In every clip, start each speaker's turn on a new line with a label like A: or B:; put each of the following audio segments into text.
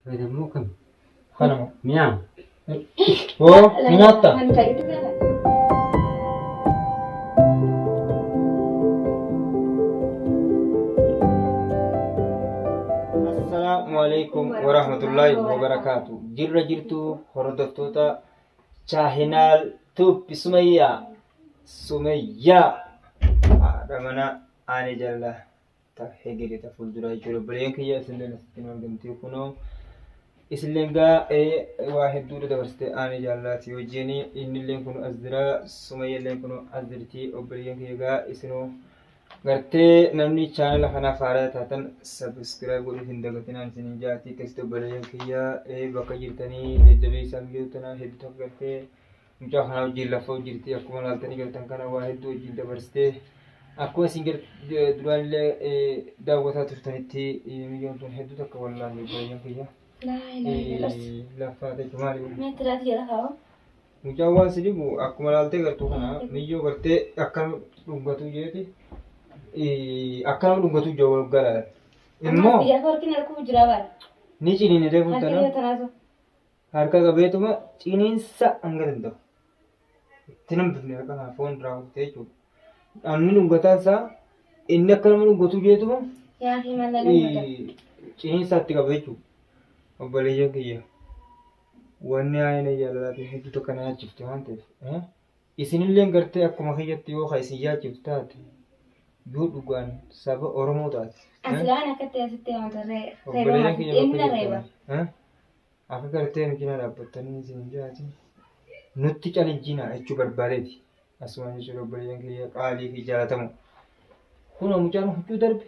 A: Fayyadamuu kan kana
B: mi'aa.
A: Oo
B: ni nyaatta. Kan ta'e itti fayyadama. Assalaamu alaikum warahmatullahi wabarakaatu. Jirra jirtu hordoftoota chaahinaal tuuppi sumayyaa sumayyaa haadha mana aanee jallaa ta hegere ta fuulduraa jechuudha obboleeyyan kiyya isinleen asitti nu argamtee kunoo isinleen gaa waa hedduudha dabarsitee aanee jaallaati wajjin innilleen kun as jira sumayyalleen kun as jirti obboleeyyan kiyya gaa isinoo gartee namni chaanala kanaaf haaraa taatan sabiskiraayib godhuuf hin dagatinaan isin hin jaati keessatti obboleeyyan kiyya bakka jirtanii jajjabeessaa mijootana hedduu takka gartee mucaa kanaa wajjin lafa hojjirti akkuma laaltanii galtan kana waa hedduu wajjin dabarsitee akkuma isin duraan illee daawwataa turtanitti miyyoon tun hedduu takka wallaalle baay'een kiyya. Laffaa ta'e maali? Mucaan waan si dhibu akkuma laaltee gartuu kana miyyoo gartee akkana dhungatuu jeeti akkana dhungatuu jawwa waggaa laalan. Immoo
C: ni ciniinitee
B: fuutanaa. Harka qabeetuma ciniinsa hanga danda'u. Itti nam dufne harka kana foon irraa kuttee jechuudha. Dhamni dhungataan isaa inni akka nama dhungatu jeetuma Yaa himala lammata. ciniinsa itti qaba jechuudha. Obboleeyyan kiyya. Wanni haayina jaalalaatiin hedduu tokko na yaachifte waan ta'eef. eh, Isinillee gartee akkuma kiyyatti yoo ka isin yaachiftu taate yoo dhugaan saba Oromoo taate. eh, Asilaan akkatti
C: asitti amata reeba Obboleeyyan
B: kiyya maati. Inni bakka reeba. jirtan, eh, Akka gartee nu cinaa dhaabbattanii isin jaatin nutti calijjina jechuu barbaadeeti. Asumaan jechuudha obboleeyyan kiyya qaalii fi jaalatamu. Kunoo mucaan huccuu darbe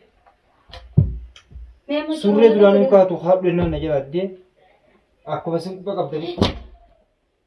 B: surree duraan hin kaatu haadhu jennaan na jalaadde akkuma sin quba qabdanii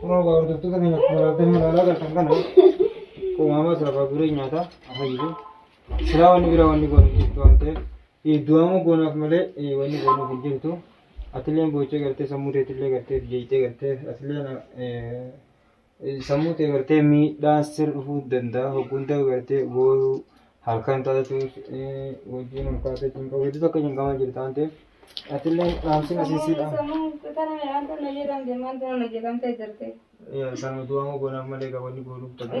B: Kunoo gaa hordoftoota keenya akkuma laaltan ilaalaa galtan kana uumamaa siraf haguuree nyaataa afayyisu. Silaa wanni biraa wanni goonu hin jirtu waan ta'eef du'aamuu goonaaf malee eh, wanni goonuuf hin jirtu. Atilleen boochee gartee sammuu teetillee gartee fi jeeqxee gartee atilleen eh, sammuu ta'e gartee miidhaan sir dhufuu danda'a hogguunta gartee booyuu halkan taatu wajjin ulfaata jechuun qabu hedduu akka cinqamaa jirtu waan ta'eef atillee dhaamsiin asiisiidha. Sammuu du'aa moo goonaaf malee gabaanni goonuuf tabbaa.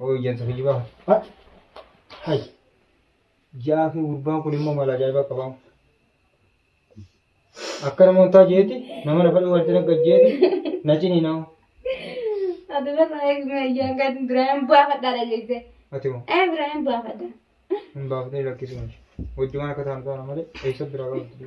B: Oo ijjansa kijibaa kana. Hat. Hay. Jaafee gurbaan kun immoo mala ajaa'ibaa qabaa. Akka namoonni taa jeeti nama lafa dhuu walitti nagga jeeti na cinii nama. Ati
C: barraa eegumee ayyaan kan Ibrahim baafadhaadha jette. Ati moo Eh Ibrahim
B: baafadha.
C: hin baafnee
B: lakkisuun hojjumaan akka ta'an ta'an malee eessa biraa qabdu.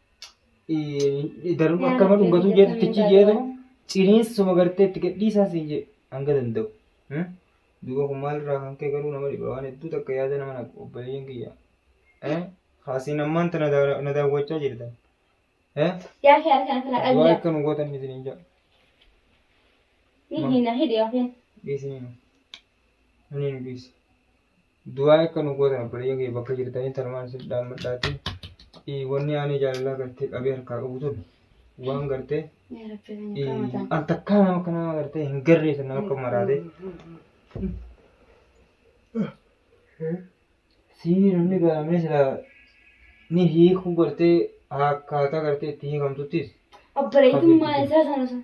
B: Daruma akka nama dhungatuu jeetu tichi jeetu ciniinsuma gartee itti gadhiisaa siin jee hanga danda'u. Duuba kun maalirraa kan kee garuu nama dhiba waan hedduu takka yaada nama naqu obboleeyyan kiyya. Haasiin ammaan tana na daawwachaa jirtan. Yaa kee
C: harkaan kana Du'aa qabda. akka nu gootan isiniin jaa.
B: Ni hina hidhi yookiin. Dhiisiniin. Ani nu dhiisi. Du'aa akka nu gootan obboleeyyan kee bakka jirtanii tanumaan isin dhaammadhaati. Wanni aanee jaalalaa gartee qabee harkaa qabu sun waan gartee
C: al takkaa nama akka
B: nama gartee hin garree sun nama akka maraatee. Sii namni gaamee silaa ni hiikuu gartee akkaataa gartee itti hiikamtuttis. Obboleetummaa
C: isaa sana sun.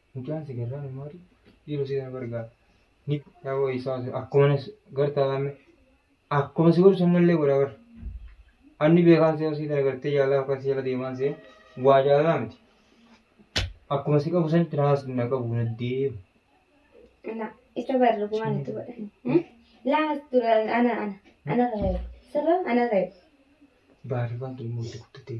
B: Mucaan si garraa nu maali? Dhiiroo si na gargaara. Ni yaaboo isaa akkuma na gartaa lamme akkuma si gorsu ammallee godha bar. Anni beekaan si hosii tana gartee jaalala akka si jala deemaan si waa jaalala miti. Akkuma si qabu sanitti na haas na qabu na deemu. Ana
C: isa barra bu'aan itti godhan. Laas dura
B: ana ana ana rayu. Sirra ana rayu. Baarifaan kee immoo itti guddatee.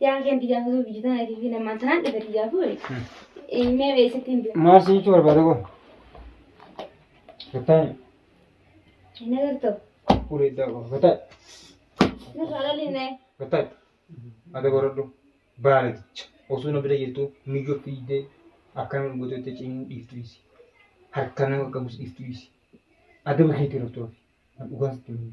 B: Yaa keen
C: biyyaa kutuu biyya tana fi namaan tanaan dhiba biyyaa fuudhe. Mee eessatti hin beeku. Maal si jechuu barbaada kun?
B: Rutaan Hin
C: agartoo. fuula iddaa qaba.
B: Rutaan
C: Nurraa lolinnee. rutaan
B: ati godhadhu baaleeti. Osoo na bira jirtu miyyoo fiiddee akkana nu godhee itti ciniin dhiiftu dhiisi. Harka nama qabus dhiiftu dhiisi. Adaba keetii irratti oofi. Dhugaan sitti himu.